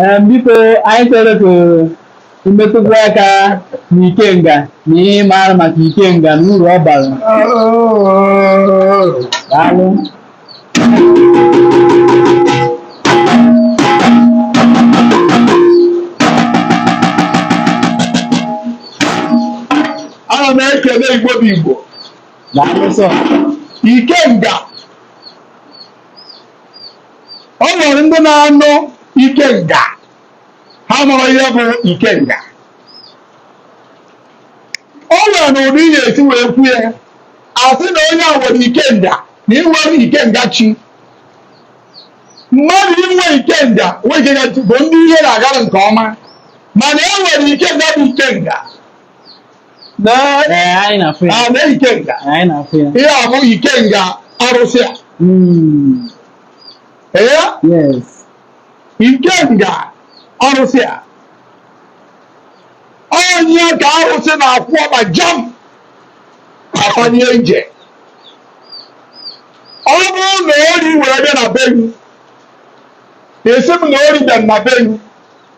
Ee, biko anyị chọrọ ka imetụkwu aka n'ikenga na ihe ị maara maka ikenga na uru ọ bara daalụ ana m ekele igbo bụ igbo daalụ sọ ikenga o nwere ndị na-anụ ikenga ha mara ihe bụ ikenga o nwere na ụdị ihe e si wee kwu ya a sị na onye a nwere ikenga na inwere ikenga chi mmadụ inwe ikenga nwe ikenga chi bụ ndị ihe na-agara nke ọma mana e nwere ikenga bụ ikenga ihe a bụ ikenga arụsị a hmm. ikenga arụsị a onye ka arụsị na-akwụ ọba jam afanye ije ọ bụrụ na ori were bịa na be gị asị m na ori bịa na be gị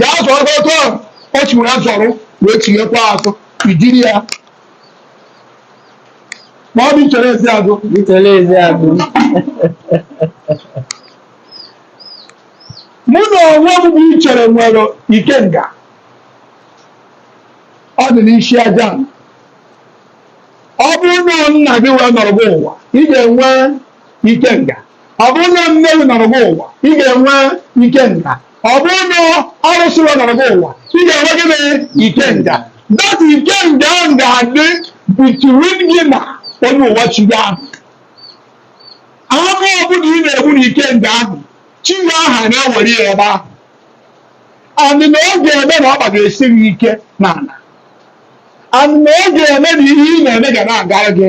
ga-azọrọ otu ahụ ọ chịwere azọrọ wee chighakwa azụ ijiri ya ma ọ bụ ichere ezi azụ ichere ezi azụ. mụ na onwe m bụ ichere nwere ikenga ọ dị n'isi aja m. ọ bụrụ na nna gị wee nọrọ gị ụwa ị ga-enwe ikenga ọ bụrụ na nne gị nọrọ gị ụwa ị ga-enwe ikenga ọ bụrụ na arụsị wee nọrọ gị ụwa ị ga-enwe gịnị ikenga that ikenga ahụ ga-adị between gị na onye ụwa chi gị ahụ anụ ọbụla ị na-egbu na ikenga ahụ chi gị ahụ a na-ewere ya ebe ahụ and na ọ ga-eme na ọkpa ga-esi gị ike n'ala and na ọ ga-eme na ihe ị na-eme ga na-agara gị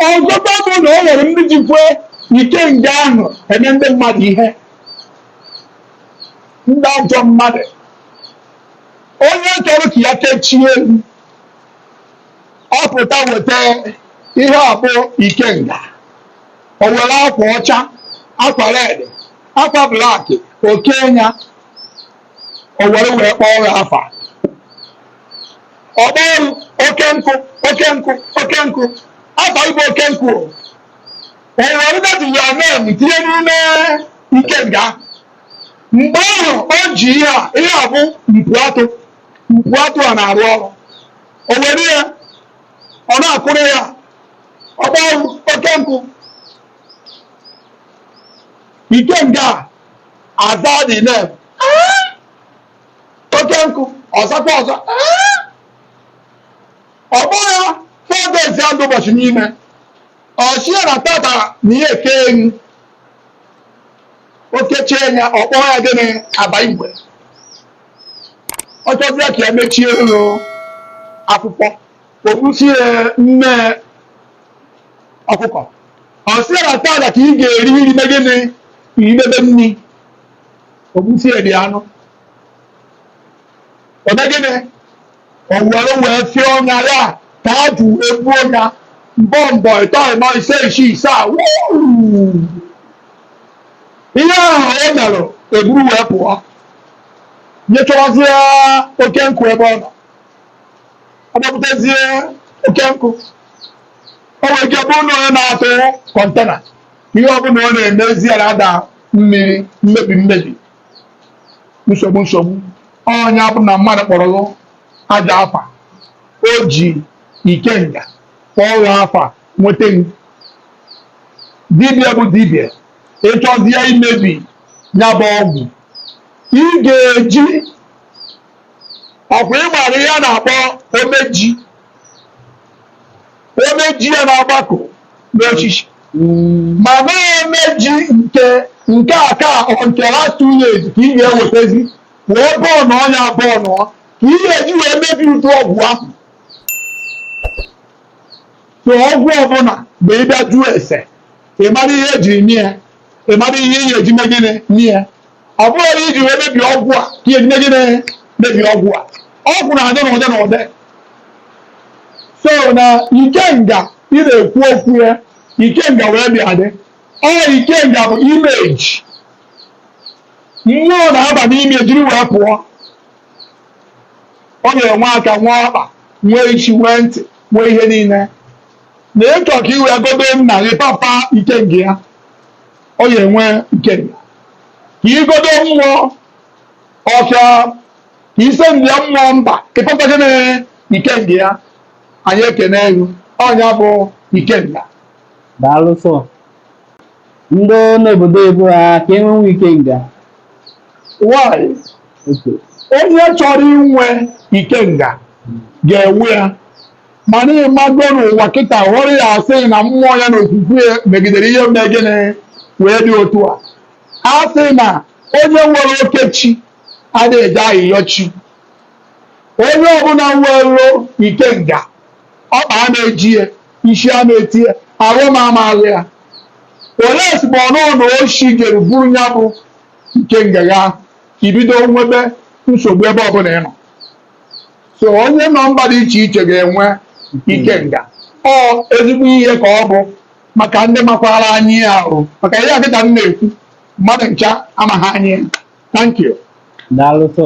ọzọkwa bụ na o nwere ndị jikwe ikenga ahụ eme ndị mmadụ ihe ndị ajọ mmadụ onye chọrọ ka ya kechie elu ọ pụta weta ihe a bụ ikenga o were akwa ọcha akwa red akwa black o kenye ya o were wee kpọọ ya afa ọ kpọọ m Okonkwọ Okonkwọ Okonkwọ afa ị bụ Okonkwọ o o were that your name tinye n'ime ikenga mgbe ahụ o ji ihe a ihe a bụ mpu atụ mpu atụ a na-arụ ọrụ o were ya ọ na-akụrụ ya ọ kpọọ m Okonkwọ ikenga aza dị na oke nkụ ọ zakwa ọzọ ọ bụrụ ya four days ya ndụ ụbọchị n'ime ọ sị ya na tata na ihe eke enyi o kechie ya ọ kpọọ ya gịnị aba igwe ọ chọzie ka ya mechie ụlọ akwụkwọ o gbusie mmee ọkụkọ ọ sị ya na tata ka ị ga-eri nri me gịnị idebe nri o gbusie dị anụ o mee gịnị o were wee fie ọnya ya ka ajụ egbu ọnya mbụ ịbọọ ịtọ ịnọ ise isii isaa ihe ahụ o mere eburu wee pụọ jee chọwazie oke nkụ ebe ọ nọ ọ gbapụtazie oke nkụ o nwere ike bụrụ na onye na-atụ container ihe ọbụla ọ na-emezi ya na-ada mmiri mmebi mmebi nsogbu nsogbu ọ nya bụ na mmadụ kpọrọ ọgwụ a gaa afa o ji ikenga kpọọ ya afa nweta dibịa bụ dibịa ị chọzie imebi ya bụ ọgwụ ị ga-eji ọkwa ị mara ihe a na-akpọ omeji omeji ya na-agbakọ n'osisi ma na omeji nke nke aka or nke last two years ka ị ga-ewetazi wee bụọ ọnụ ọ nya bụ ọnụ ka ị ga-eji wee mebi ụdị ọgwụ ahụ so ọgwụ ọbụla mgbe ị bịa jụọ ese ị mara ihe ejiri mee ya ị mara ihe ihe eji mee gịnị mee ya ọ bụrụ na iji wee mebie ọgwụ a ka ihe eji mee gịnị mebie ọgwụ a ọgwụ na-adị n'ụdị n'ụdị so na ikenga ị na-ekwu okwu ya ikenga wee bịa dị ọ ikenga bụ image mmụọ na-aba n'ime jiri wee pụọ ọ ga-enwe aka nwee ọkpa nwee isi nwee ntị nwee ihe niile na ị chọọ ka i wee godo nna gị papa ikenga ya ọ ya-enwe ikenga ka igodo mmụọ ọka ka ise ndị ya mmụọ mba ị pụta gị na ikenga ya anyị ekene elu ọ nya bụ ikenga daalụ sọ ndị n'obodo ebo ha ka enwenwu ikenga nwanyị onye chọrọ inwe ikenga ga-enwe ya mana ịmago n'ụwa kịta ghọrọ ya a sị na mmụọ ya na okwukwe megidere ihe mee gịnị wee dị otu a a sị na onye nwere oke chi adịghị eje ayịyọ chi onye ọbụla nwere ikenga ọkpa a na-eji ya isi a na-eti ya arụ m amaghị ya olee ozugbo ọ nụọ na oshi jere buru ya bụ ikenga ya i bido nwebe nsogbu ebe ọbụla ị nọ so onye nọ mba dị iche iche ga-enwe ikenga ọ ezigbo ihe ka ọ bụ maka ndị makwara anya ihe ahụ maka ihe a kịta m na-ekwu mmadụ ncha amaghị anya ya thank you daalụ sọ